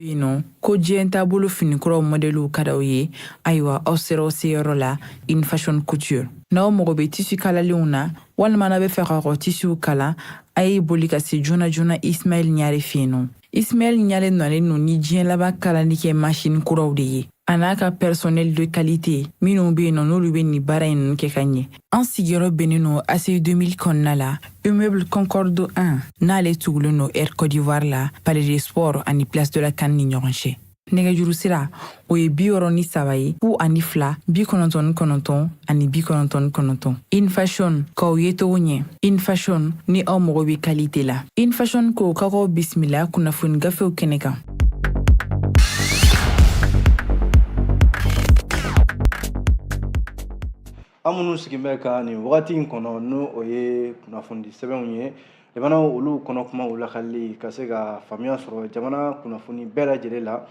yen nɔ ko diɲɛ taabolo finikuraw mɔdɛliw ka d'aw ye ayiwa aw sera aw seyɔrɔ la in fashion couture n'aw mago bɛ tisi kalalenw na walima n'aw b'a fɛ k'aw ka tisiw kala a ye boli ka se joona joona ismaɛl ɲare fɛ yen nɔ ismaɛl ɲare nalen no ni diɲɛ laban kalali kɛ masini kuraw de ye a n'a ka personnel de qualité minnu be yen nɔ n'olu be nin baara in kɛ ka ɲɛ an sigiyɔrɔ bɛnnen nɔ aci 2000 kɔnɔna la immeuble concorde 1 n'ale tugulen nɔ air cote d'ivoire la palais des sports ani place de la can ni ɲɔgɔn cɛ nɛgɛjuru sira o ye bi wɔɔrɔ ni saba ye fu ani fila bi kɔnɔntɔn ni kɔnɔntɔn ani bi kɔnɔntɔn ni kɔnɔntɔn in fashion k'aw yecogo ɲɛ in fashion ni aw mago be qualité la in fashion ko ka k'aw bisimila kunnafoni gafew kɛnɛ kan an minnu sigin bɛ ka nin wagati in kɔnɔ n'o o ye kunnafoni sɛbɛnw ye jamanaw olu kɔnɔ kumaw lakali ka se ka faamuya sɔrɔ jamana kunnafoni bɛɛ lajɛlen la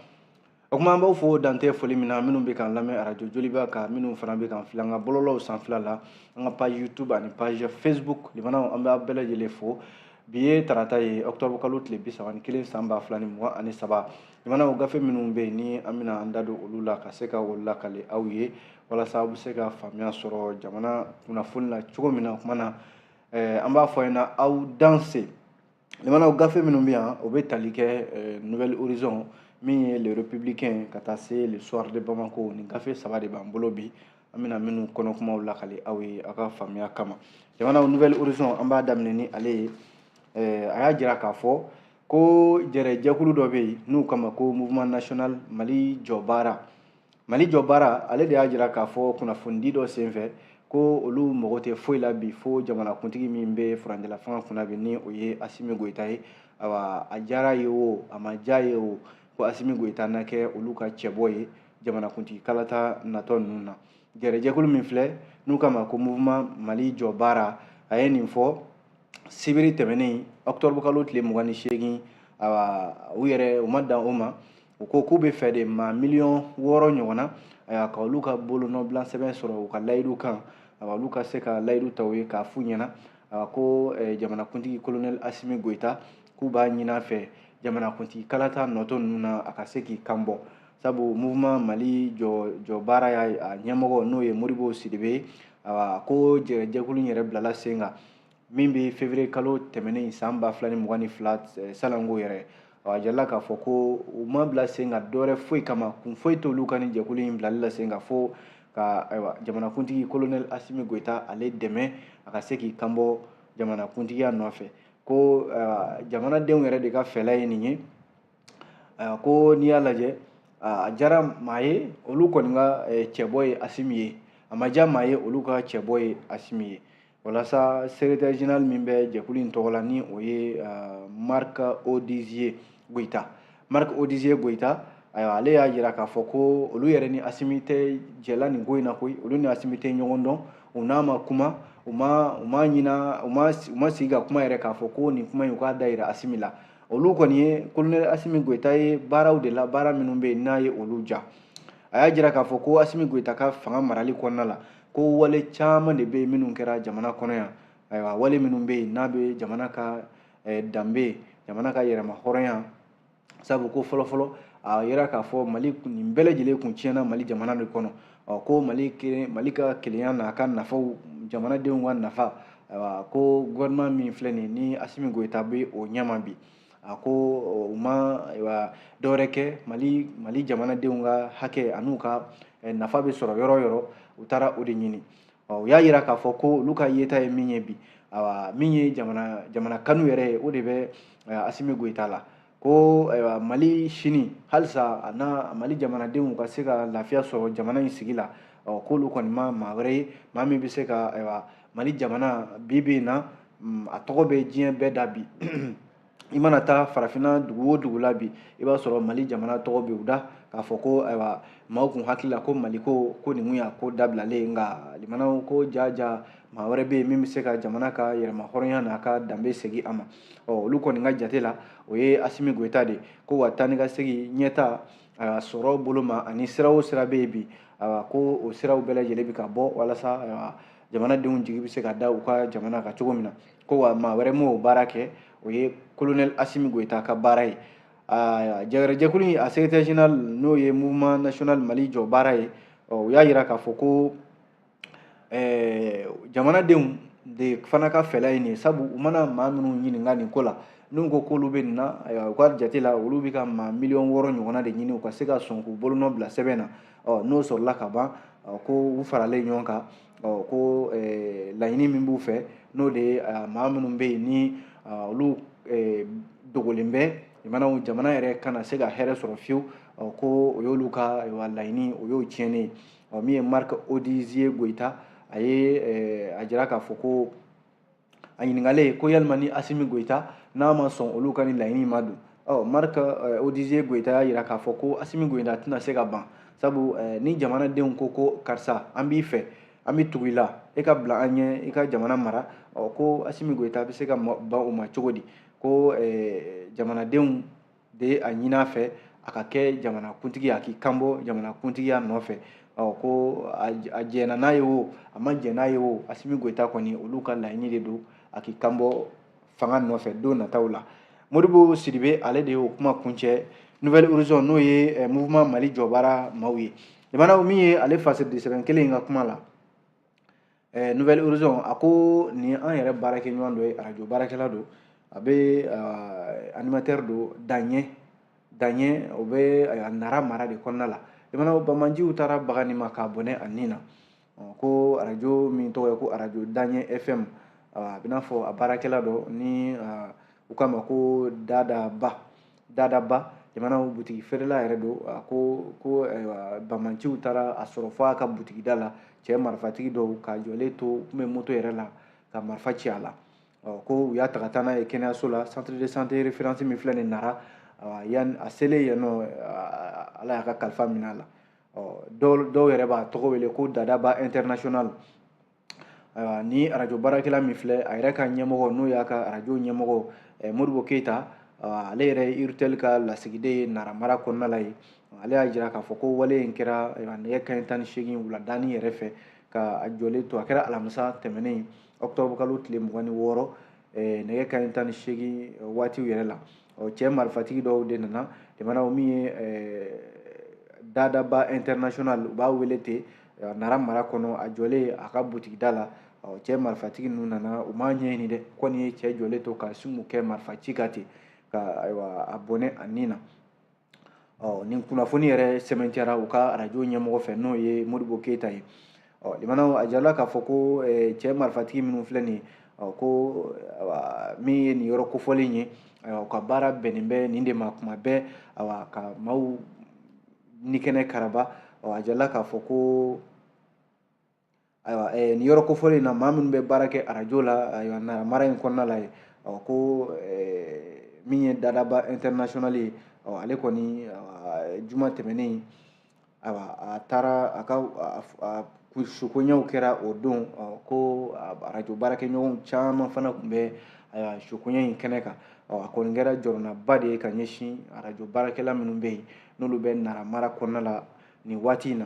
O tuma an b'aw fo dantɛ foli min na minnu bɛ k'an lamɛn arajo joliba kan minnu fana bɛ k'an filɛ an ka bɔlɔlɔw sanfɛla la an ka page youtube ani page facebook lamɛnnaw an b'a bɛɛ lajɛlen fo bi ye tarata ye octobre kalo tile bi saba ni kelen san ba fila ni mugan ani saba lamɛnnaw gafe minnu bɛ yen ni an bɛna an da don olu la ka se ka o lakali aw ye walasa aw bɛ se ka faamuya sɔrɔ jamana kunnafoni na cogo min na o tuma na eh, an b'a fɔ a ɲɛna aw danse lamɛnnaw gafe minnu bɛ yan o bɛ tali kɛ eh, nouvel horizon min ye le républicain ka taa se le soir de bamako nin gafe saba de b'an bolo bi an bɛna minnu kɔnɔkumaw lakali aw ye aw ka faamuya kama jamanaw nouvel horizon an b'a daminɛ ni ale ye eh, a y'a jira k'a fɔ ko jɛrɛjɛkulu dɔ bɛ yen n'u k'a ma ko mouvement national mali jɔ baara mali jɔ baara ale de y'a jira k'a fɔ kunnafonidi dɔ senfɛ ko olu mago tɛ foyi la bi fo jamanakuntigi min bɛ furancɛla fanga kunna bi ni o ye asimi goyita ye awa a diyar'a ye o a ma diy'a ye o ko asimi goyita na kɛ olu ka cɛbɔ ye jamanakuntigi kalata natɔ ninnu na gɛrɛjɛkulu min filɛ n'u k'a ma ko mouvement mali jɔ baara a ye nin fɔ sibiri tɛmɛnen octobre kalo tile mugan ni seegin awa u yɛrɛ u ma dan o ma u ko k'u b'a fɛ de maa miliyɔn wɔɔrɔ ɲɔgɔn na ayiwa ka olu ka bolonɔbila sɛbɛn sɔrɔ u ka layidu kan ayiwa olu ka se ka layidu ta u ye k'a f'u ɲɛna ayiwa ko eh, jamanakuntigi kolonɛli asimi goyita k'u b'a ɲin'a fɛ jamanakuntigi kalata natɔ ninnu na a ka se k'i kan bɔ sabu mouvement mali jɔ jɔ baara y'a ɲɛmɔgɔ n'o ye modibo sidibe ye ayiwa ko jɛrɛjɛkulu in yɛrɛ bilala sen kan min bɛ fevrier kalo tɛmɛnen in san ba fila ni mugan ni fila eh, salanko yɛrɛ a jirala k'a fɔ ko u ma bila sen kan dɔwɛrɛ foyi kama kun foyi t'olu ka nin jɛkulu in bilali la sen kan fo ka ayiwa jamanakuntigi kolonɛli asimi goyita ale dɛmɛ a ka se k'i kanbɔ jamanakuntigiya nɔfɛ ko eh, jamanadenw yɛrɛ de ka fɛla ye nin ye eh, ko n'i y'a lajɛ a diyara maa ye olu kɔni ka cɛbɔ ye asimi ye a ma diya maa ye olu ka cɛbɔ ye asimi ye walasa secrétaire général min bɛ jɛkulu in tɔgɔ la ni o ye euh, marc odizier goyita marc odizier goyita ayiwa ale y'a jira k'a fɔ ko olu yɛrɛ ni asimi tɛ jɛla nin ko in na koyi olu ni asimi tɛ ɲɔgɔn dɔn u n'a ma kuma u ma u ma ɲina u ma u ma sigi ka kuma yɛrɛ k'a fɔ ko nin kuma in u k'a da yira asimi la olu kɔni ye kolonɛli asimi goyita ye baaraw de la baara minnu bɛ yen n'a ye olu diya a y'a jira k'a fɔ ko asimi goyita ka fanga marali kɔnɔna la ko wale caman de bɛ yen minnu kɛra jamana kɔnɔ yan ayiwa wale minnu bɛ yen n'a bɛ jamana ka eh, danbe jamana ka yɛrɛma hɔrɔnya sabu ko fɔlɔfɔlɔ a yira k'a fɔ mali nin bɛɛ lajɛlen kun tiɲɛna mali jamana de kɔnɔ ɔ ko mali kelen mali ka kelenya n'a ka nafaw jamanadenw ka nafa ayiwa ko gouvernement min filɛ nin ni asimi goyita bɛ o ɲɛma bi a ko u ma dɔwɛrɛ kɛ mali mali jamanadenw ka hakɛ an'u ka eh, nafa bɛ sɔrɔ yɔrɔ o yɔrɔ u taara o de ɲini u y'a yira k'a fɔ ko olu ka yeta ye min ye bi awa min ye jamana jamana kanu yɛrɛ ye o de bɛ eh, asimi goyita la ko ayiwa mali sini halisa a n'a mali jamanadenw ka se ka lafiya sɔrɔ jamana in sigi la k'olu kɔni ma maa wɛrɛ ye maa min bɛ se ka ayiwa mali jamana bi bi in na mm, a tɔgɔ bɛ diɲɛ bɛɛ da bi i mana taa farafinna dugu o dugu la bi i b'a sɔrɔ mali jamana tɔgɔ bɛ u da k'a fɔ ko ayiwa maaw kun hakili la ko mali ko ko nin kun y'a ko dabilalen nka limanaw ko jaa jaa maa wɛrɛ bɛ yen min bɛ se ka jamana ka yɛrɛma hɔrɔnya n'a ka danbe segin a ma ɔ olu kɔni ka jate la o ye asimi goyita de ye ko wa taa ni ka segin ɲɛta a sɔrɔ bolo ma ani sira o sira bɛ yen bi a ko o siraw bɛɛ lajɛlen bɛ ka bɔ walasa jamanadenw jigi bɛ se ka da u ka jamana kan cogo min na ko wa maa wɛrɛ m'o baara kɛ o ye kolonɛli asimi goyita ka baara ye jɛgɛrɛjɛkulu in a secrétaire général n'o ye mouvement national mali jɔ baara ye u y'a jira k'a fɔ ko ɛɛ jamanadenw de fana ka fɛla ye nin ye sabu u mana maa minnu ɲininka nin ko la n'u ko k'olu bɛ nin na ayiwa u ka jate la olu bɛ ka maa miliyɔn wɔɔrɔ ɲɔgɔnna de ɲini u ka se ka sɔn k'u bolonɔ bila sɛbɛn na ɔ n'o sɔrɔla ka ban ko u faralen ɲɔgɔn kan ɔ ko laɲini min b'u fɛ n'o de ye maa minnu bɛ yen ni olu dogolen bɛ jamanaw jamana yɛrɛ kana se ka hɛrɛ sɔrɔ fiyewu ko o y'olu ka laɲini o y'o tiɲɛni ye ɔ min ye marc odizie goyita a ye eh, a jira k'a fɔ ko a ɲininkalen ko yalima ni asimi goyita n'a ma sɔn olu ka ni laɲini ma don ɔ marc eh, odizie goyita y'a jira k'a fɔ ko asimi goyita tɛna se ka ban sabu eh, ni jamanadenw ko ko karisa an b'i fɛ an bɛ tugu i la e ka bila an ɲɛ i ka jamana mara ɔ ko asimi goyita bɛ se ka ban o ma cogo di ko jamanadenw de a ɲini a fɛ a ka kɛ jamanakuntigi a k'i kanbɔ jamanakuntigiya nɔfɛ ɔ ko a jɛna n'a ye o a ma jɛn n'a ye o asimi goyita kɔni olu ka laɲini de don a k'i kanbɔ fanga nɔfɛ don nataw la modibo sidibe ale de y'o kuma kuncɛ nouvelle horizon n'o ye eh, mouvement mali jɔbaara maaw ye jamana min ye ale fasidisɛbɛn kelen in ka kuma la ɛɛ nouvelle horizon a ko nin an yɛrɛ baarakɛɲɔgɔn dɔ ye arajo baarakɛla don a bɛ animateur don daɲɛ daɲɛ o bɛ a nara mara de kɔnɔna la i mana banbaanciw taara baga nin ma k'a bɔnɛ a nin na ko arajo min tɔgɔ ye ko arajo daɲɛ fm a bɛ n'a fɔ a baarakɛla dɔ ni u k'a ma ko dada ba dadaba jamana butigi feerela yɛrɛ don a ko ko banbaanciw taara a sɔrɔ fɔ a ka butigida la cɛ marifatigi dɔw k'a jɔlen to tun bɛ moto yɛrɛ la ka marifa ci a la ko u y'a ta ka taa n'a ye kɛnɛyaso la centre de santé référence min filɛ nin nara yan a selen yen nɔ ala y'a ka kalifa minɛ a la dɔw yɛrɛ b'a tɔgɔ wele ko dadaba international ayiwa ni arajo baarakɛla min filɛ a yɛrɛ ka ɲɛmɔgɔ n'o y'a ka arajo ɲɛmɔgɔ eh, modibo keyita ale yɛrɛ ye urtel ka lasigiden ye nara mara kɔnɔna la ye ale y'a jira k'a fɔ ko wale in kɛra eh, nɛgɛ kanɲɛ tan ni seegin wuladani yɛrɛ fɛ ka a jɔlen to a kɛra alamisa tɛmɛnen ɔkutɔburukalo tile mugan ni wɔɔrɔ eh, nɛgɛ kanɲɛ tan ni seegin waatiw yɛrɛ la ɔ cɛ marifatigi dɔw de nana jamana o min ye dadaba international u b'a wele ten a nara mara kɔnɔ a jɔlen a ka butigida la ɔ cɛ marifatigi ninnu nana u m'a ɲɛɲini dɛ kɔni ye cɛ jɔlen to ka sumu kɛ marifa ci ka ten ka ayiwa a bɔnɛ a ni na ɔ nin kunnafoni yɛrɛ sɛmɛntiyara u ka arajo ɲɛmɔgɔ fɛ n'o ye modibo keyita ye ɔ limanaw a jirala k'a fɔ ko eh, cɛ marifatigi minnu filɛ nin ɔ ko min ye nin yɔrɔ kofɔlen ye u ka baara bɛnnen bɛ nin de ma kuma bɛɛ awa ka maaw ni kɛnɛ karaba a jirala k'a fɔ ko ayiwa nin yɔrɔ kofɔlen in na maa minnu bɛ baara kɛ arajo la ayiwa nara mara in kɔnɔna la yen ɔ ko min ye dadaba international ye ɔ ale kɔni juma tɛmɛnen ayiwa a taara a ka sukoɲɛw kɛra o don ko arajo baarakɛɲɔgɔnw caman fana tun bɛ ayiwa sukoɲɛ in kɛnɛ kan ɔ a kɔni kɛra jɔrɔnaba de ye ka ɲɛsin arajo baarakɛla minnu bɛ yen n'olu bɛ nara mara kɔnɔna la nin waati in na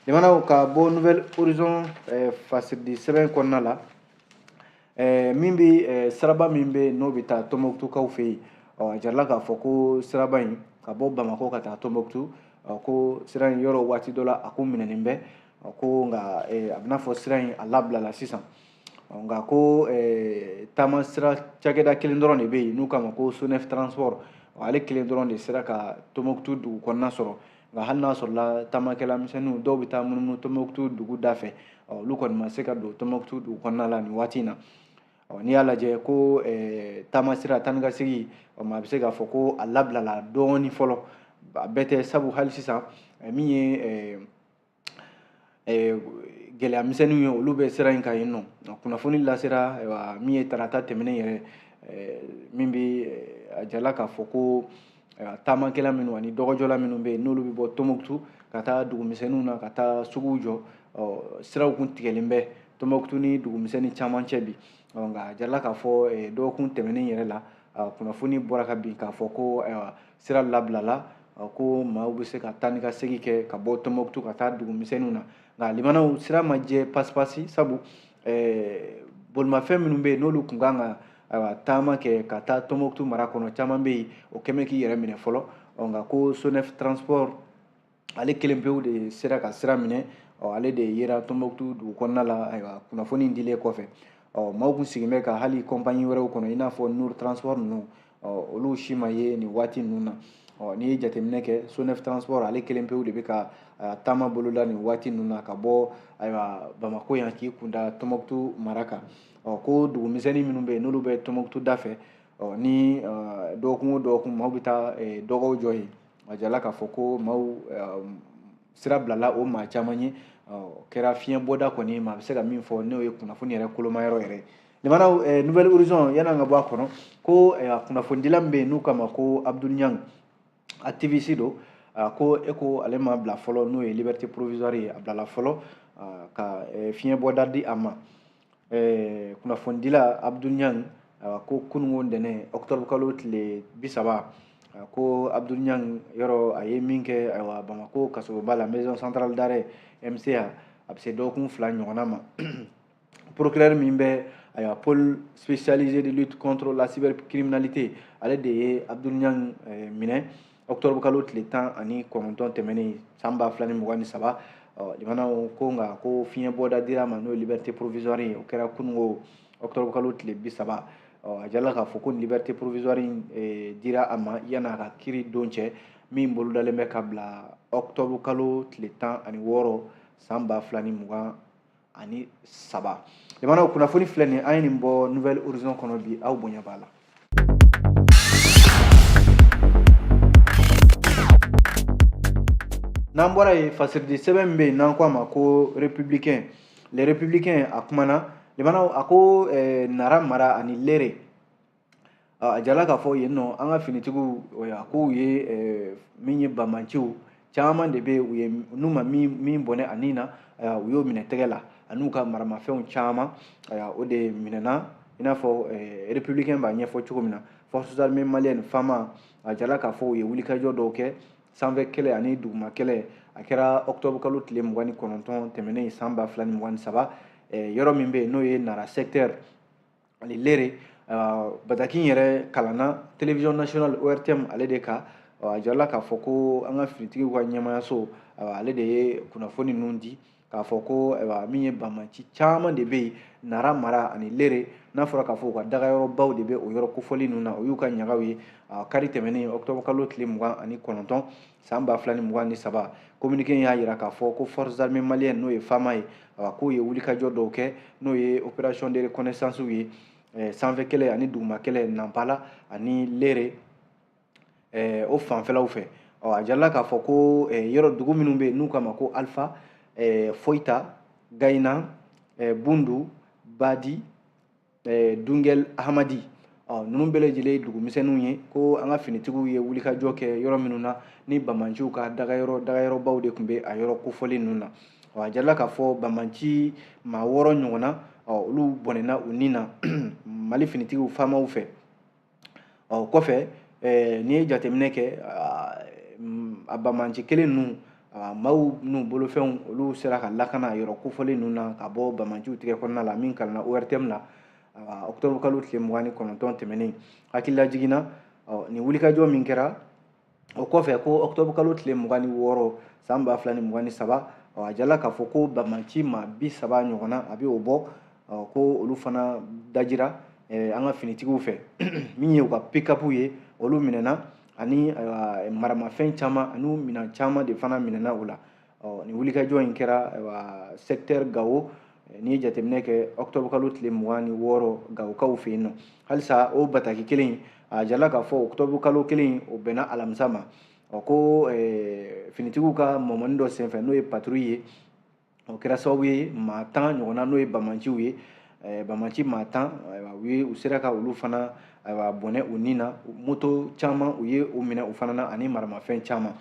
jamanaw ka bɔ nouvel horizon eh, fasiridi sɛbɛn kɔnɔna la eh, min bɛ eh, siraba min bɛ n'o bɛ taa tɔnbɔkutukaw fɛ yen ɔ a jirala k'a fɔ ko siraba in ka bɔ bamakɔ ka taa tɔnbɔkutu ɔ ko sira in yɔrɔ waati dɔ la a kun minɛnen bɛ ɔ ko nka a bɛna fɔ sira in a labilala sisan nka ko taama sira cakɛda kelen dɔrɔn de bɛ yen n'u k'a ma ko sonef transport ale kelen dɔrɔn de sera ka tɔnbɔkutu dugu kɔnɔna sɔrɔ nka hali n'a sɔrɔla taamakɛla misɛnninw dɔw bɛ taa munumunu tɔnbɔkutu dugu da fɛ olu kɔni ma se ka don tɔnbɔkutu dugu kɔnɔna la nin waati in na n'i y'a lajɛ ko taamasira taa ni ka segin a bɛ se k'a fɔ ko a labilala dɔɔnin fɔlɔ a bɛɛ tɛ sabu hali sisan min ye eh, gɛlɛya misɛnninw ye olu bɛ sira in kan yen ɔ kunnafoni lasera ayiwa min ye tarata tɛmɛnen yɛrɛ eh, min bɛ eh, a jirala k'a fɔ ko taamakɛla minnu ani dɔgɔjɔla minnu bɛ yen n'olu bɛ bɔ tɔnbɔkutu ka taa dugumisɛnninw na ka taa suguw jɔ siraw kun tigɛlen bɛ tɔnbɔkutu ni dugumisɛnnin caman cɛ bi nka a jirala k'a fɔ dɔgɔkun tɛmɛnen yɛrɛ la kunnafoni bɔra ka bin k'a fɔ ko ayiwa sira labilala ko maaw bɛ se ka taa ni ka segin kɛ ka bɔ tɔnbɔkutu ka taa dugu misɛnninw na nka limanaw sira ma jɛ pasipasi sabu bolimafɛn minnu bɛ yen n'olu kun kan ka ayiwa taama kɛ ka taa tɔnbɔkutu mara kɔnɔ caman bɛ yen o kɛlen bɛ k'i yɛrɛ minɛ fɔlɔ nka ko sonef transport ale kelen pewu de sera ka sira minɛ ɔ ale de yera tɔnbɔkutu dugu kɔnɔna la ayiwa kunnafoni dilen kɔfɛ ɔ maaw kun sigilen bɛ ka hali compagnie wɛrɛw kɔnɔ i n'a fɔ nour transport ninnu ɔ olu si ma ye nin waati ninnu na ɔ n'i ye jateminɛ kɛ sonef transport ale kelen pewu de bɛ ka taama boloda nin waati ninnu na ka bɔ ayiwa bamako yan k'i kunda tɔnbɔkutu mara kan ɔ ko dugumisɛnnin minnu bɛ yen n'olu bɛ tɔnbɔkutu da fɛ ɔ ni dɔgɔkun o dɔgɔkun maaw bɛ taa dɔgɔw jɔ yen a jirala k'a fɔ ko maaw sira bilala o maa caman ye kɛra fiɲɛ bɔda kɔni maa bɛ se ka min fɔ n'o ye kunnafoni yɛrɛ kolomayɔrɔ yɛrɛ limanaw nouvel horizon yan'an ka bɔ a kɔnɔ ko a kunnafonidila min bɛ yen n'u k'a ma ko abdoul niang activiste don ko e ko ale ma bila fɔlɔ n'o ye liberté provisoire ye a bilala fɔlɔ ka fiɲɛ bɔda di a ma kunnafonidila abdoul niang ko kununko ntɛnɛn octobre kalo tile bi saba ko abdoul niang yɔrɔ a ye min kɛ ayiwa bamako kasoba la maison centrale d'arrêt mca a bɛ se dɔgɔkun fila ɲɔgɔnna ma procureur min bɛ ayiwa pôle spécialisé de lutte contre la cybercriminalité ale de ye abdoul niang minɛ ɔkutɔrɔbu kalo tile tan ani kɔnɔntɔn tɛmɛnen san ba fila ni mugan ni saba lamɛnnaw ko nka ko fiɲɛ bɔda dira a ma n'o ye liberté provisoire ye o kɛra kunungo ɔkutɔrɔbu kalo tile bi saba a jirala k'a fɔ ko liberté provisoire in e, dira a ma yan'a ka kiiri don cɛ min bolodalen bɛ ka bila ɔkutɔrɔbu kalo tile tan ani wɔɔrɔ san ba fila ni mugan ani saba lamɛnnaw kunnafoni filɛ nin an ye nin bɔ nouvel horizon kɔnɔ bi aw bonya b'a la n'an bɔra yen fasiridi sɛbɛn min bɛ yen n'an ko a ma ko républicain le républicain a kumana lamɛnnaw a ko eh, nara mara ani lere a jirala k'a fɔ yen nɔ an ka finitigiw a k'u ye min ye bamanciw caman de bɛ yen n'u ma min bɔnɛ a nin na u y'o minɛ tɛgɛ la an'u ka maramafɛnw caman o de minɛna i n'a fɔ républicain b'a ɲɛfɔ cogo min na forces armées maliennes fama a jirala k'a fɔ u ye wulikajɔ dɔw kɛ sanfɛ kɛlɛ ani duguma kɛlɛ a kɛra octobre kalo tile mugan ni kɔnɔntɔn tɛmɛnen san ba fila ni mugan ni saba yɔrɔ min bɛ yen n'o ye nara secteur ani lere bataki in yɛrɛ kalanna télévision nationale ortm ale de ka a jira la k'a fɔ ko an ka finitigiw ka ɲɛmaayaso ale de ye kunnafoni ninnu di k'a fɔ ko min ye bamanci caman de bɛ yen nara mara ani lere n'a fɔra k'a fɔ u ka dagayɔrɔbaw de bɛ o yɔrɔ kofɔlen ninnu na o y'u ka ɲagaw ye kari tɛmɛnen octobre kalo tile mugan ani kɔnɔntɔn san ba fila ni mugan ni saba kominike y'a jira k'a fɔ ko forces armées maliennes n'o ye fama ye a k'u ye wulikajɔ dɔw kɛ n'o ye opération de reconnaissance ye eh, sanfɛ kɛlɛ ani duguma kɛlɛ nanpala ani lere eh, o fanfɛlaw fɛ ɔ a jirala k'a fɔ ko eh, yɔrɔ dugu minnu bɛ yen n'u k'a ma ko alpha foyita gayinan bundu badi eh, dungɛl ahamadi ɔ ninnu bɛɛ lajɛlen ye dugumisɛnninw ye ko an ka finitigiw ye wulikajɔ kɛ yɔrɔ minnu na ni bamanciw ka dagayɔrɔ dagayɔrɔbaw de tun bɛ a yɔrɔ kofɔlen ninnu na ɔ a jirala k'a fɔ bamanci maa wɔɔrɔ ɲɔgɔnna ɔ olu bɔnɛna u ni na mali finitigiw famaw fɛ ɔ kɔfɛ n'i ye jateminɛ kɛ a bamanci kelen ninnu maaw n'u bolofɛnw olu sera ka lakana yɔrɔ kofɔlen ninnu na ka bɔ bamanciw tigɛ kɔnɔna la min kalanna ortm na octobre kalo tile mugan ni kɔnɔntɔn tɛmɛnen hakililajigin na nin wulikajɔ min kɛra o kɔfɛ ko octobre kalo tile mugan ni wɔɔrɔ san ba fila ni mugan ni saba a jirala k'a fɔ ko bamanci maa bi saba ɲɔgɔnna a bɛ o bɔ ko olu fana dajira an ka finitigiw fɛ min ye u ka pikapu ye olu minɛna ani maramafɛn caman ani minɛn caman de fana minɛna o la ɔ nin wulikajɔ in kɛra ayiwa secteur gawo n'i ye jateminɛ kɛ octobre kalo tile mugan ni wɔɔrɔ gawokaw fɛ yen ɔ halisa o bataki kelen in a jala k'a fɔ octobre kalo kelen in o bɛnna alamisa ma ɔ ko finitigiw ka mɔmɔni dɔ senfɛ n'o ye patrouille ye o kɛra sababu ye maa tan ɲɔgɔnna n'o ye bamanciw ye Eh, bamanci maa tan ayiwa u ye u sera ka olu fana ayiwa bɔnɛ u ni na moto caman u ye u minɛ u fana na ani maramafɛn caman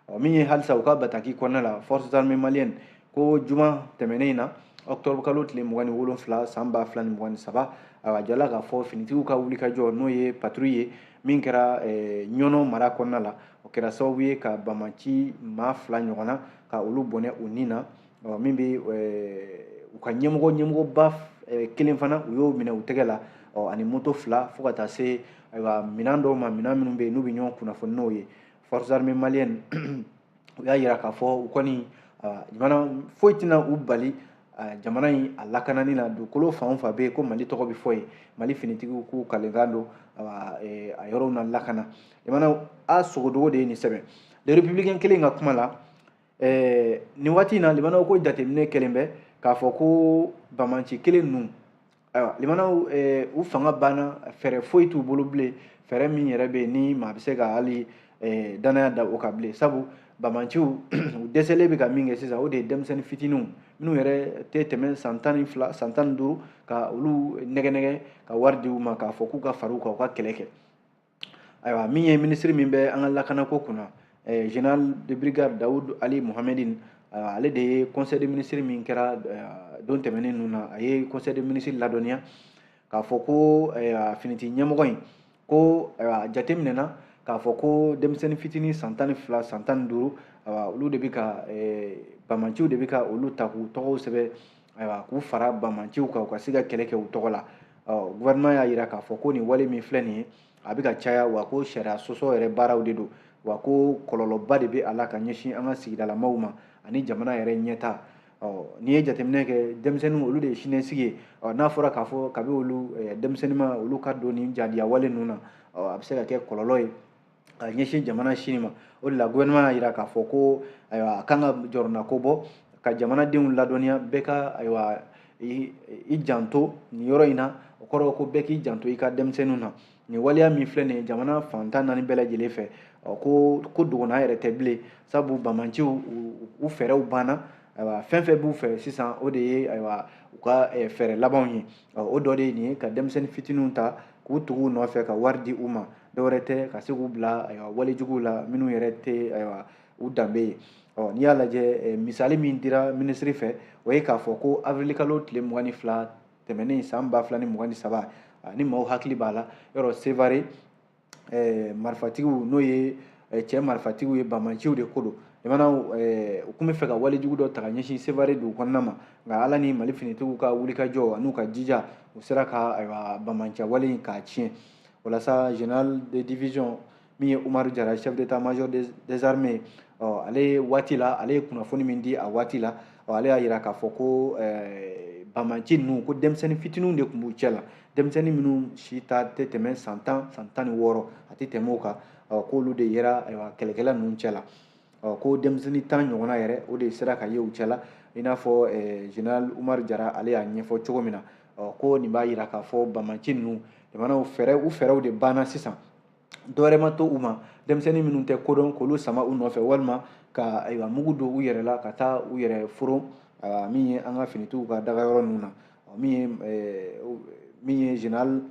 ɔ min ye halisa u ka bataki kɔnɔna la forces armées maliennes ko juma tɛmɛnen in na octobre kalo tile mugan ni wolonfila san ba fila ni mugan ni saba a jala k'a fɔ finitigiw ka wulikajɔ n'o ye patrouille ye min kɛra eh, ɲɔnɔ mara kɔnɔna la o kɛra sababu ye ka bamanci maa fila ɲɔgɔnna ka olu bɔnɛ u ni na min bɛ eh, u ka ɲɛmɔgɔ ɲɛmɔgɔba eh, kelen fana u y'o minɛ u tɛgɛ la ani moto fila fo ka taa se ayiwa minɛn dɔw ma minɛn minnu bɛ yen n'u bɛ ɲɔgɔn kunnafoni n'o ye forces armées maliennes u y'a yira k'a fɔ u kɔni jamana foyi tɛna u bali jamana in a lakanani na dugukolo fan o fan bɛ yen ko mali tɔgɔ bɛ fɔ yen mali finitigiw k'u kalenkan don a yɔrɔw na lakana jamana a sogodogo de ye nin sɛbɛn le républicain kelen ka kuma la nin waati in na limanaw ko jateminɛ kɛlen bɛ k'a fɔ ko bamanci kelen ninnu ayiwa limanaw eh, u fanga banna fɛɛrɛ foyi t'u bolo bilen fɛɛrɛ min yɛrɛ bɛ yen ni maa bɛ se ka hali eh, danaya da o kan bilen sabu bamanciw u dɛsɛlen bɛ ka min kɛ sisan o de ye denmisɛnnin fitininw minnu yɛrɛ tɛ tɛmɛ san tan ni fila san tan ni duuru ka olu nɛgɛnɛgɛ ka wari di u ma k'a fɔ k'u ka fara u kan u ka kɛlɛ kɛ ayiwa min ye minisiri min bɛ an ka lakanako kunna eh, général de brigade daoud ali mohamedine ah, ale de ye conseil de ministre min kɛra ah, don tɛmɛnen ninnu na a ye conseil de ministre ladɔnniya k'a fɔ ko eh, finiti ɲɛmɔgɔ in ko a jate minɛna k'a fɔ ko denmisɛnnin fitinin san tan ni fila san tan ni duuru olu de bɛ ka eh, bamanciw de bɛ ka olu ta k'u tɔgɔw sɛbɛn ayiwa k'u fara bamanciw kan u ka se ka kɛlɛ kɛ u tɔgɔ la gouvernement y'a jira k'a fɔ ko nin wale min filɛ nin ye a bɛ ka caya wa ko sariya sɔsɔ yɛrɛ baaraw de don wa ko kɔlɔlɔba de bɛ a la ka ɲɛsin an ka sigidalamaw ma ani jamana yɛrɛ ɲɛtaa n'i ye jateminɛ kɛ denmisɛnninw olu de ye siniɲɛsigi ye n'a fɔra k'a fɔ kabi olu denmisɛnnin ma olu ka don nin jadiyawale ninnu na a bɛ se ka kɛ kɔlɔlɔ ye ka ɲɛsin jamana sini ma o de la gouvernement y'a jira k'a fɔ ko ayiwa a kan ka jɔrɔnanko bɔ ka jamanadenw ladɔnniya bɛɛ ka ayiwa i janto nin yɔrɔ in na o kɔrɔ ko bɛɛ k'i janto i ka denmisɛnninw na nin waleya min filɛ nin ye jamana fan tan naani bɛɛ lajɛlen fɛ ko ko dogona yɛrɛ tɛ bilen sabu bamanciw u fɛɛrɛw banna ayiwa fɛn fɛn b'u fɛ sisan o de ye ayiwa u ka fɛɛrɛ labanw ye o dɔ de ye nin ye ka denmisɛnnin fitininw ta k'u tugu u nɔfɛ ka wari di u ma dɔwɛrɛ tɛ ka se k'u bila ayiwa walejuguw la minnu yɛrɛ tɛ ayiwa u danbe ye ɔ n'i y'a lajɛ misali min dira minisiri fɛ o ye k'a fɔ ko awirilikalo tile mugan ni fila tɛmɛnen san ba fila ni mugan ni saba ni maaw hakili b'a la yɔrɔ sevare eh, marifatigiw n'o ye eh, cɛ marifatigiw ye bamanciw de ko don jamanaw eh, u tun bɛ fɛ ka walejugu dɔ ta ka ɲɛsin sevare dugu kɔnɔna ma nka ala ni mali finitigiw ka wulikajɔ an'u ka jija u sera ka ayiwa bamanciya wale in k'a tiɲɛ walasa général de division min ye umaru jara chef d'état major des, des armées ɔ ale waati la ale ye kunnafoni min di a waati la ɔ ale y'a jira k'a fɔ ko eh, bamanci ninnu ko denmisɛnnin fitininw de tun b'u cɛ la denmisɛnnin minnu si ta tɛ tɛmɛ san tan san tan ni wɔɔrɔ a tɛ tɛmɛ o kan k'olu de yera ayiwa kɛlɛkɛla ninnu cɛla ko denmisɛnnin tan ɲɔgɔnna yɛrɛ o de sera ka ye u cɛla i n'a fɔ général umar jara ale y'a ɲɛfɔ cogo min na ko nin b'a jira k'a fɔ bamanci ninnu jamanaw fɛɛrɛ u fɛɛrɛw de banna sisan dɔwɛrɛ ma to u ma denmisɛnnin minnu tɛ ko dɔn k'olu sama u nɔfɛ walima ka ayiwa mugu don u yɛrɛ la ka taa u yɛrɛ foron min ye an ka finitigiw ka dagayɔrɔ ninnu na min ye min ye général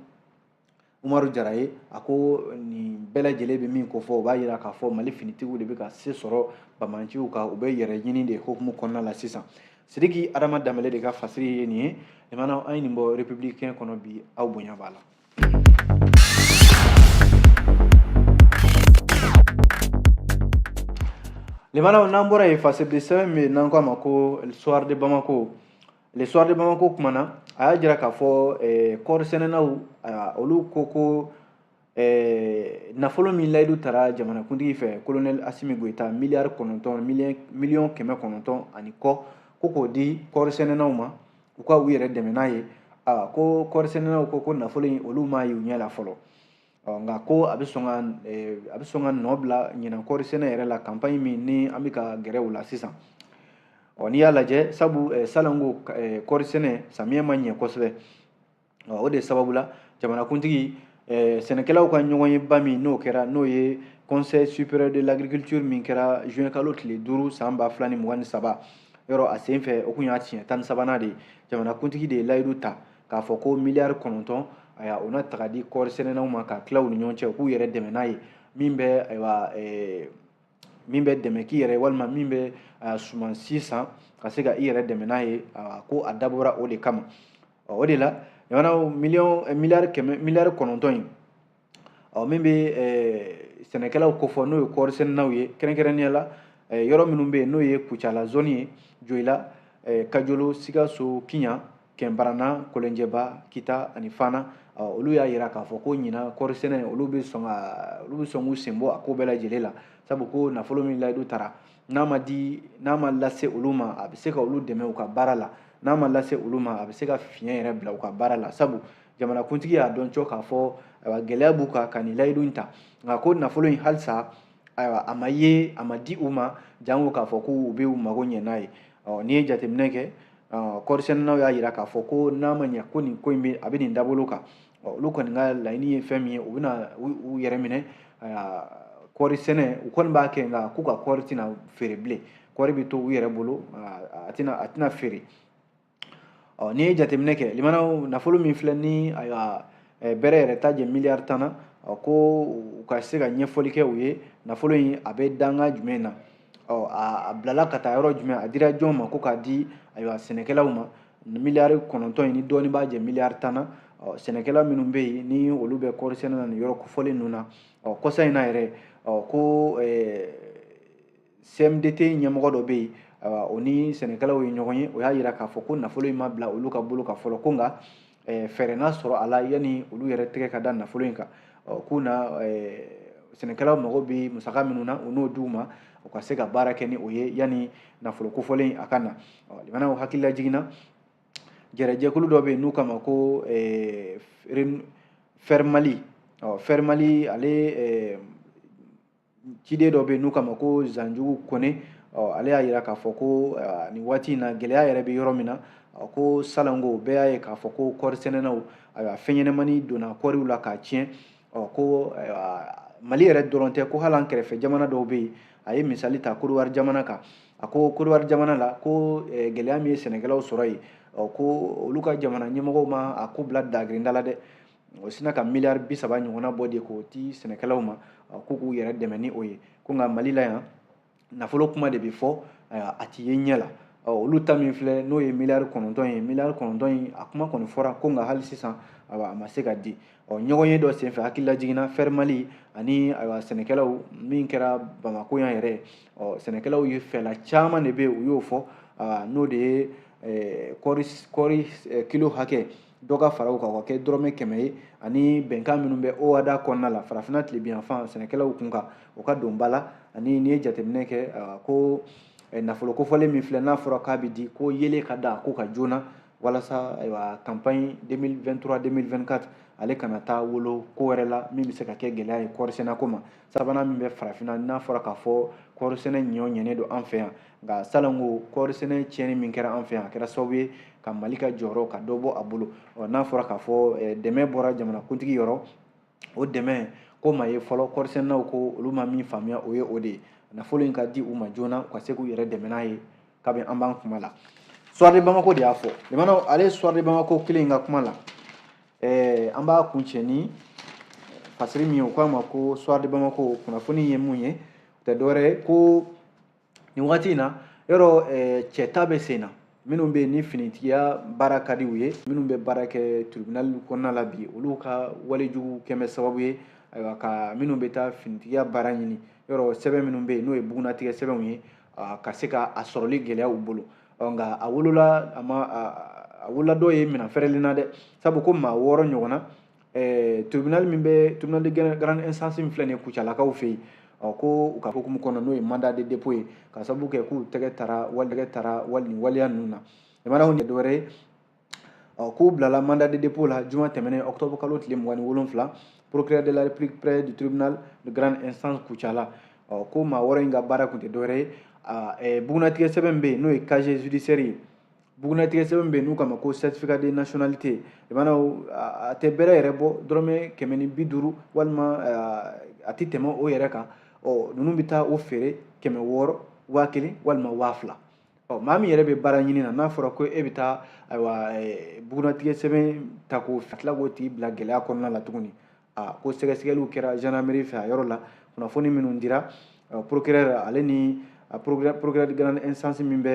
umaru jara ye a ko nin bɛɛ lajɛlen bɛ min kofɔ o b'a jira k'a fɔ mali finitigiw de bɛ ka se sɔrɔ bamanciw kan u bɛ yɛrɛ ɲini de hokumu kɔnɔna la sisan sidiki adama danbɛlɛ de ka fasiri ye nin ye limanaw an ye nin bɔ républicain kɔnɔ bi aw bonya b'a la Limana n'an bɔra yen fasiri sɛbɛn min bɛ yen n'an k'a ma ko soir de Bamako le soir de Bamako kumana a y'a jira k'a fɔ eh, kɔɔri sɛnɛnaw ah, olu ko ko eh, nafolo min layidu tara jamanakuntigi fɛ kolonɛli asimi goyita miliyari kɔnɔntɔn miliyɔn kɛmɛ kɔnɔntɔn ani kɔ ko k'o di kɔɔri sɛnɛnaw ma u ka u yɛrɛ dɛmɛ n'a ye a ko kɔɔrisɛnɛnaw ko ko nafolo in olu m'a ye u ɲɛ la fɔlɔ nka ko a bɛ sɔn ka a bɛ sɔn ka nɔ bila ɲinan kɔɔrisɛnɛ yɛrɛ la kanpaɲi min ni an bɛ ka gɛrɛ o la sisan ɔ n'i y'a lajɛ sabu salon ko kɔɔrisɛnɛ samiyɛ ma ɲɛ kosɛbɛ o de sababu la jamanakuntigi eh, sɛnɛkɛlaw ka ɲɔgɔnyeba min n'o kɛra n'o ye conseil supérieur de l'agriculture min kɛra juin kalo tile duuru san ba fila ni mugan ni saba yɔrɔ a sen fɛ o tun y'a tiɲɛ tan ni sabanan de ye jamanakuntigi de ye layidu ta k'a fɔ ko miliyari kɔnɔntɔn ayiwa o na taga di kɔɔri sɛnɛnaw ma k'a tila u ni ɲɔgɔn cɛ u k'u yɛrɛ dɛmɛ n'a ye min bɛ ayiwa eh, min bɛ dɛmɛ k'i yɛrɛ walima min bɛ sumansi san ka se ka i yɛrɛ dɛmɛ n'a ye ko a dabɔra o de kama o de la jamanaw miliyɔn eh, miliyari kɛmɛ miliyari kɔnɔntɔn in ɔ min bɛ eh, sɛnɛkɛlaw kofɔ n'o ye kɔɔri sɛnɛnaw ye kɛrɛnkɛrɛnnenya la eh, yɔrɔ minnu bɛ yen n'o ye kucala zɔni ye joyila kajolo sikaso kiɲa kɛnbarana kolonjɛba kita ani fana olu y'a yira k'a fɔ ko ɲina kɔɔri sɛnɛ olu bɛ sɔn ka olu bɛ sɔn k'u sen bɔ a ko bɛɛ lajɛlen la sabu ko nafolo min layidu taara n'a ma di n'a ma lase olu ma a bɛ se ka olu dɛmɛ u ka baara la n'a ma lase olu ma a bɛ se ka fiɲɛ yɛrɛ bila u ka baara la sabu jamanakuntigi y'a dɔn cɔ k'a fɔ gɛlɛya b'u kan ka nin layidu in ta nka ko nafolo in halisa ayiwa a ma ye a ma di u ma janko k'a fɔ ko u bɛ u mago ɲɛ n'a ye n'i ye jateminɛ kɛ kɔɔrisɛnɛnaw y'a yira k'a fɔ ko n'a ma ɲɛ ko nin ko in bɛ a bɛ nin dabolo kan olu kɔni ka laɲini ye fɛn min ye u bɛna u yɛrɛ minɛ kɔɔri sɛnɛ u kɔni b'a kɛ nka k'u ka kɔɔri tɛna feere bilen kɔɔri bɛ to u yɛrɛ bolo a tɛna a tɛna feere ɔ n'i ye jateminɛ kɛ limanaw nafolo min filɛ ni ayiwa bɛrɛ yɛrɛ t'a jɛ miliyari tan na ɔ ko u ka se ka ɲɛfɔli kɛ u ye nafolo in a bɛ danga jumɛn na ɔ a bilala ka taa yɔrɔ jumɛn a dira jɔn ma ko k'a di ayiwa sɛnɛkɛlaw ma miliyari kɔnɔntɔn in ni dɔɔni b'a jɛ miliyari tan na ɔ sɛnɛkɛla minnu bɛ yen ni olu bɛ kɔɔri sɛnɛ na nin yɔrɔ kofɔlen ninnu na ɔ kɔsa in na yɛrɛ ɔ ko ɛɛ cmdt ɲɛmɔgɔ dɔ bɛ yen o ni sɛnɛkɛlaw ye ɲɔgɔn ye o y'a yira k'a fɔ ko nafolo in ma bila olu ka bolo kan fɔlɔ ko nka fɛɛrɛ na sɔrɔ a la yanni olu yɛrɛ tɛgɛ ka da nafolo in kan k'u na sɛnɛkɛlaw mago bɛ musaka minnu na u n'o d'u ma u ka se ka baara kɛ ni o ye yanni nafolo kofɔlen a ka na limanaw hakililajigin na jɛrɛjɛkulu dɔ bɛ yen n'u k'a ma ko fɛrimali fɛrimali ale ciden dɔ bɛ yen n'u k'a ma ko zanjugu kɔnɛ ale y'a yira k'a fɔ ko nin waati in na gɛlɛya yɛrɛ bɛ yɔrɔ min na ko salon ko bɛɛ y'a ye k'a fɔ ko kɔɔri sɛnɛnaw ayiwa fɛn ɲɛnɛmani donna kɔɔriw la k'a tiɲɛ ko mali yɛrɛ dɔrɔn tɛ ko hali an kɛrɛfɛ jamana dɔw bɛ yen a ye misali ta kodiwari jamana kan a ko kodiwari jamana la ko gɛlɛya min ye sɛnɛkɛlaw sɔrɔ yen ko olu ka jamana ɲɛmɔgɔw ma a ko bila dagirinda la dɛ o sinna ka miliyari bi saba ɲɔgɔnna bɔ de k'o di sɛnɛkɛlaw ma ko k'u yɛrɛ dɛmɛ ni o ye ko nka mali la yan nafolo kuma de bɛ fɔ a ti ye ɲɛ la olu ta min filɛ n'o ye miliyari kɔnɔntɔn ye miliyari kɔnɔntɔn in a kuma kɔni fɔra ko nka hali sisan a ma se ka di ɔ ɲɔgɔnye dɔ senfɛ hakililajigin na fɛri mali ani ayiwa sɛnɛkɛlaw min kɛra bamako yan yɛrɛ ɔ sɛnɛkɛlaw ye fɛla caman de bɛ yen u y'o fɔ n'o de ye kɔɔri kilo hakɛ dɔ ka fara u kan o ka kɛ dɔrɔmɛ kɛmɛ ye ani bɛnkan minnu bɛ oada kɔnɔna la farafinna tilebiyanfan sɛnɛkɛlaw kun kan o ka don ba la ani n'i ye jateminɛ kɛ ko nafolo kofɔlen min filɛ n'a fɔra k'a bɛ di ko yeelen ka da ko kan joona walasa ayiwa campagne 2023 2024 ale kana taa wolo ko wɛrɛ la min bɛ se ka kɛ gɛlɛya ye kɔɔrisɛnɛko ma sabanan min bɛ farafinna n'a fɔra k'a fɔ kɔɔri sɛnɛ ɲɔ ɲɛnen don an fɛ yan nka salon ka kɔɔri sɛnɛ tiɲɛni min kɛra an fɛ yan a kɛra sababu ye ka mali ka jɔyɔrɔ ka dɔ bɔ a bolo ɔ n'a fɔra k'a fɔ eh, dɛmɛ bɔra jamanakuntigi yɔrɔ o dɛmɛ k'o ma ye fɔlɔ kɔɔri sɛnɛnaw ko olu ma min faamuya o ye o de ye nafolo in ka di u ma joona u ka se k'u yɛrɛ dɛmɛ n'a ye kabi an b'an kuma la soir de bamako de y'a fɔ limanaw ale soir de bamako kelen in ka kuma la ɛɛ an b'a kuncɛ ni fasiri min ye o k'a ma ko soir de bamako kunnafoni ye mun ye o tɛ dɔwɛrɛ ye ko nin wagati in na yɔrɔ ɛɛ cɛta bɛ senna minnu bɛ yen ni finitigiya baara ka di u ye minnu bɛ baara kɛ tribunal kɔnɔna la bi olu ka walejugu kɛmɛ sababu ye ayiwa ka minnu bɛ taa finitigiya baara ɲini yɔrɔ sɛbɛn minnu bɛ yen n'o ye bugunnatigɛ sɛbɛnw ye ka se ka a sɔrɔli gɛlɛya u bolo ɔ nka a wolola a ma a wolola dɔw ye minɛn fɛrɛlen na dɛ sabu ko maa wɔɔrɔ ɲɔgɔnna eh, tribunal min bɛ tribunal de grande instance min filɛ nin ye kucalakaw fɛ yen ɔ ko u ka hukumu kɔnɔ n'o ye mandat de dépôt ye ka sababu kɛ k'u tɛgɛ tara wali tɛgɛ tara wali nin waleya ninnu na limanaw nin dɔwɛrɛ ye ɔ k'u bilala mandat de dépôt la juma tɛmɛnen octobre kalo tile mugan ni wolonfila procureur de la république près du tribunal de grande instance kucala ɔ ko maa wɔɔrɔ in ka baara tun tɛ dɔwɛrɛ ye eh, bugunnatigɛ sɛbɛn bɛ yen n'o ye casier judiciaire ye bugunnatigɛ sɛbɛn bɛ yen n'u k'a ma ko certificat de nationalité i b'a dɔn a tɛ bɛrɛ yɛrɛ bɔ dɔrɔmɛ kɛmɛ ni bi duuru walima eh, a tɛ tɛmɛ o yɛrɛ kan ɔ ninnu bɛ taa o feere kɛmɛ wɔɔrɔ waa kelen walima waa fila ɔ maa min yɛrɛ bɛ baara ɲini na n'a fɔra ko e bɛ taa ayiwa bugunnatigɛ sɛbɛn ta k'o ka tila k'o tigi bila gɛlɛya kɔnɔna la tuguni a ko sɛgɛsɛgɛliw kɛra gendarmerie fɛ a yɔrɔ la kunnafoni minnu dira procureur ale ni procureur de grande instance min bɛ